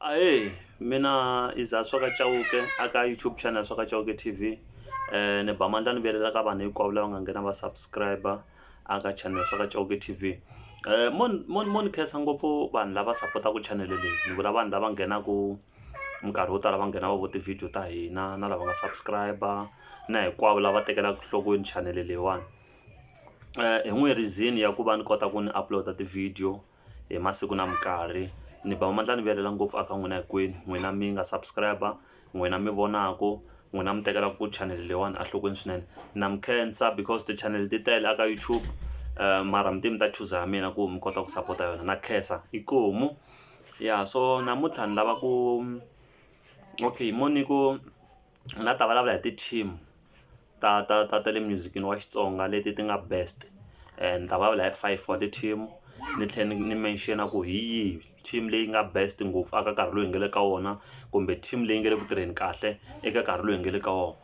Ahee, mina i Zaswa ka Chauke a ka YouTube channel Zaswa ka Chauke T_V ni ba mandla ni vilela ka vanhu hinkwavo lava nga nghena va subscribe a ka channel Zaswa ka Chauke T_V mo mo mo ni khensa ngopfu vanhu lava sapotaka channel leyi ni vula vanhu lava nghenaka minkarhi yo tala va nghena va vona ti-video ta hina na lava nga subscribe na hinkwavo lava tekelaka enhlokweni channel leyiwani hi n'wi reason ya ku va ni kota ku ni upload ti-video. hi masiku na minkarhi ni ba mandla ni vilela ngopfu a ka n'wina hinkwenu n'wina mi nga subscribe n'wina mi vonaku n'wina mi tekela ku chanel leyiwani enhlokweni swinene na mi khensa because ti chanel ti tele aka YouTube mara mi te mi ta chuza ya mina ku mi kota ku sapota yona na khensa inkomu ya so namuntlha ni lava ku okay moniku ni nga ta vulavula hi ti team ta ta ta ta le music-ini wa Xitsonga leti ti nga best ni ta vulavula hi five wa ti team ni tlhela ni mention ku hi yihi team leyi nga best ngopfu eka nkarhi lowu hi nga le ka wona kumbe team leyi nga le ku tirheni kahle eka nkarhi lowu hi nga le ka wona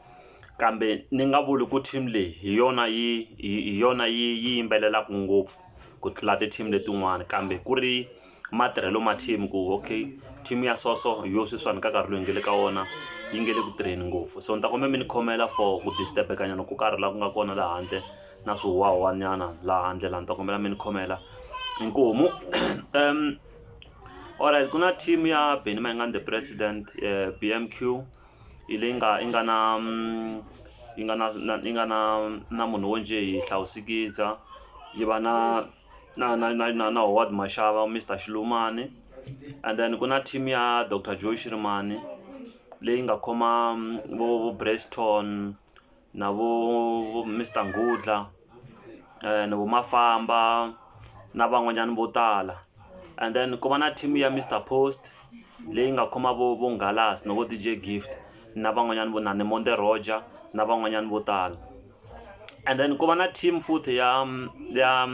kambe ni nga vuli ku team leyi hi yona yi hi yona yi yimbelelaka ngopfu ku tlula ti team letin'wana kambe ku ri matirhelo ma team ku okay team ya so so hi yo sweswiwani ka nkarhi loyi hi nga le ka wona yi nge le ku tirheni ngopfu so ni ta kombela mi ni khomela for ku disturb-eka nyana ko karhi laha ku nga kona laha handle na swihuhwahuhwa nyana laha handle laha ni ta kombela mi ni khomela inkomu alright ku na team ya Benny Mayengani the president B_M_Q hi leyi nga yi nga na yi nga na yi nga na na munhu wo njhe hi Hlawusikiza yi va na. na na na na na howard maxava mister xilumani and then ku na team ya doctor joe xirimani leyi nga khoma vo vo breston na vo vo mister ngudla um vo mafamba na van'wanyana vo tala and then ku va na team ya mister post leyi nga khoma vo vo ngalas na vo dj gift na van'wanyana vo na ni monde roger na van'wanyana vo tala and then ku va na team futhi ya ya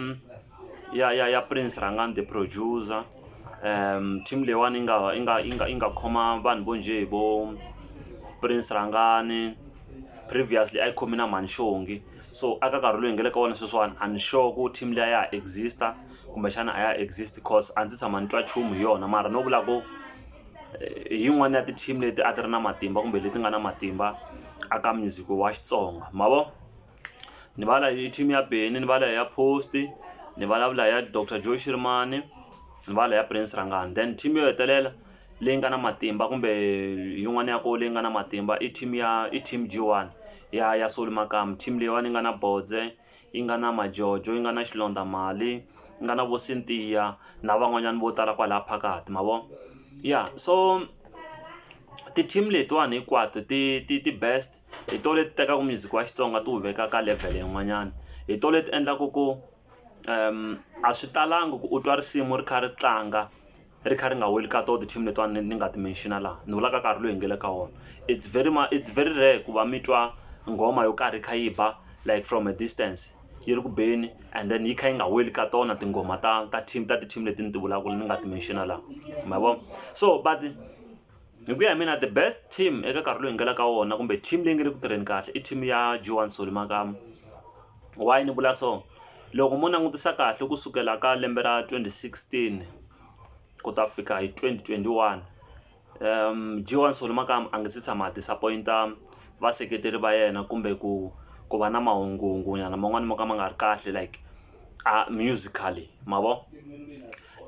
ya ya ya prince rhangani the producer um team leyiwani yi nga yi nga yi nga yi nga khoma vanhu vo njhe hi vo prince rhangani previously a yi khomi na mhani xongi so aka nkarhi loyi hi nga le ka wona sweswiwani a ni sure ku team liya ya ha exist-a kumbexana a ya exist cause a ndzi tshama ni twa nchumu hi yona mara no vula ku. hi yin'wani ya ti team leti a ti ri na matimba kumbe leti nga na matimba a ka music wa Xitsonga ma vo ni va la hi team ya Benny ni va la ya Post ni vulavula ya Doctor Joe Shirimani ni va la ya Prince Rhangani then team yo hetelela leyi nga na matimba kumbe yin'wana ya koho leyi nga na matimba i team ya i team G_one ya ya Solly Makamu team leyiwani yi nga na Bodze. yi nga na majojo yi nga na xilondzamali yi nga na vo Cynthia na van'wanyana vo tala kwalaya phakathi ma vo ya so ti team letiwani hinkwato ti ti ti best hi to leti tekaka music wa Xitsonga ti wu veka ka level yin'wanyana hi to leti endlaku ku a swi talangi ku u twa risimu ri kha ri tlanga. ri kha ri nga weli ka tona ti-team letiwani ni nga ti mention-a laha ni vulaka nkarhi lowu hi nga le ka wona it's very it's very rare ku va mi twa nghoma yo karhi yi kha yi ba like from a distance yi ri ku beni and then yi kha yi nga weli ka tona tinghoma ta ta team ta ti-team leti ni ti vulaka ni nga ti mention-a laha ma vo so but. hi ku ya hi mina the best team eka nkarhi lowu hi nga la ka wona kumbe team leyi nga le ku tirheni kahle i team ya joan soli makama why ni vula so loko mo langutisa kahle ku sukela ka lembe ra 2016 ku ta fika hi 2021 um joan soli makama a nge se tshama a disappointa vaseketeri va yena kumbe ku ku va na mahungungunyana man'wani mo ka ma nga ri kahle like a musically ma vo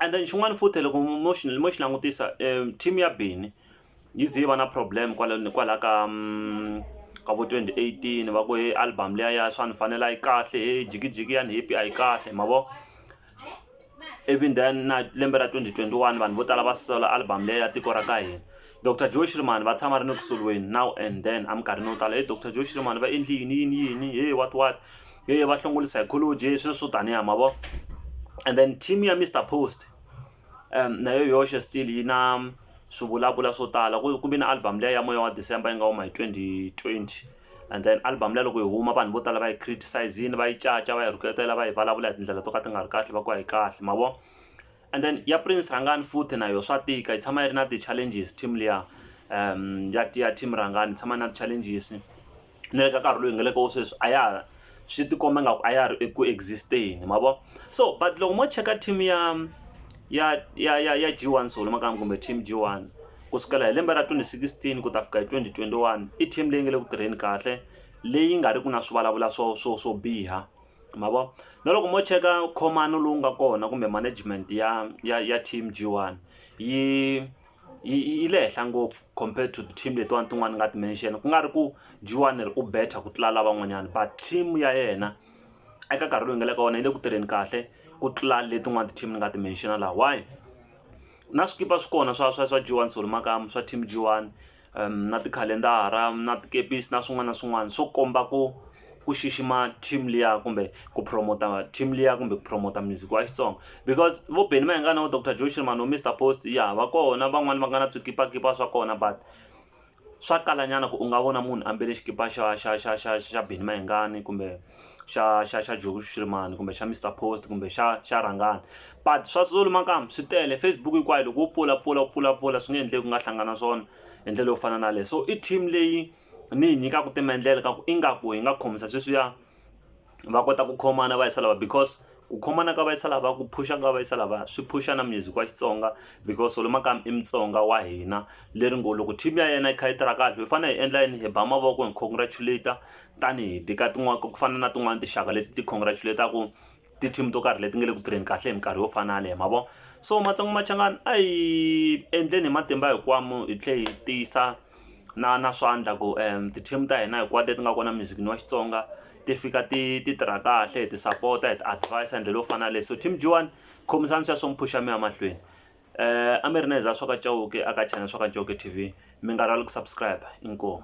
and then xin'wana futhi loko mo xi mo xi langutisa um team ya bini yi ze yi va na problem kwala kwala ka mm, ka vo 2018 va ku he album leya ya swa ni fanela yi kahle he jikijiki ya ni happy a yi kahle ma vo even then na lembe ra 2021 vanhu vo tala va sola album leyi ya tiko ra ka hina dr joe shirman va tshama ri ni ku soliweni now and then a minkarhini yo tala he dr joe shirman va endli yini yini yini he what what yo yo va hlongole psychology sweswo swo taniya ma vo and then team ya mr post um na yo yoxe still yi na swi vulavula swo tala ku ve na album leyi ya moya wa december yi nga huma hi twenty twenty and then album leyi loko yi huma vanhu vo tala va yi criticise-ini va yi caca va yi rhuketela va yi vulavula hi tindlela to ka ti nga ri kahle va ku a yi kahle ma vo And then ya Prince Rhangani futhi na yo swa tika yi tshama yi ri na ti challenges team liya ya ya team Rhangani yi tshama yi ri na ti challenges na le ka nkarhi loyi hi nga le ka wo sweswi a ya swi ti komba ingaku a ya ha ri eku exist-eni ma vo so but loko mo cheka team ya ya ya ya ya G1 Soul makamu kumbe team G1 ku sukela hi lembe ra twenty sixteen ku ta fika hi twenty twenty one i team leyi nga le ku tirheni kahle leyi nga ri ku na swi vulavula swo swo swo biha ma vo na loko mo cheka khomani lowu nga kona kumbe management ya ya ya team G one yi yi yi le henhla ngopfu compared to team letiwani tin'wani ni nga ti mention ku nga ri ku G one ri u better ku tlula lavan'wanyani but team ya yena eka nkarhi lowu hi nga le ka wona yi le ku tirheni kahle ku tlula letin'wani ti-team ni nga ti mention la why na swikipa swi kona swa swa swa G one solo makamu swa team G one na tikhalendara na tikepisi na swin'wana na swin'wana swo komba ku ku xixima team liya kumbe ku promote team liya kumbe ku promote music wa Xitsonga because vo Benny Mayengani na vo Doctor Joe Sheeran vo Mister Post ya va kona van'wani va nga na swikipakipa swa kona but swa kala nyana ku u nga vona munhu ambale xikipa xa xa xa xa xa Benny Mayengani kumbe. xa xa xa Joe Shirimani kumbe xa Mister Post kumbe xa xa Rhangani but swa Zulu makamba swi tele Facebook hinkwayo loko wo pfula pfula pfula pfula swi nge endleki ku nga hlangana swona hi ndlela yo fana na leyi so i team leyi ni yi nyikaka timendlele ka ku ingaku hi nga khomisa sweswiya va kota ku khomana va yisa lava because Ku khomana ka va yisa lava ku phusha ka va yisa lava swi phusha na music wa Xitsonga because Solly Makamba i Mutsonga wa hina leri ngo loko team ya yena yi kha yi tirha kahle hi fanele hi endla yini hi ba mavoko hi congratulate tanihi teka tin'wana ku fana na tin'wani tinxaka leti ti congratulate-ku ti team to karhi leti nga le ku tirheni kahle hi minkarhi yo fana yaleyo ma vo so Matsonga Machangani a hi endleni hi matimba hinkwawo hi tlhela hi tiyisa. na na swa endla ku ti-team ta hina hinkwato leti nga kona muzikini wa Xitsonga ti fika ti ti tirha kahle hi ti sapota hi ti advise hi ndlela yo fana na leyi so team G_one khomisani sweswo mi phuxa mi ya mahlweni a mi ri na hi za swa ka Chauke a ka channel swa ka Chauke T_V mi nga rivali ku subscribe inkomu.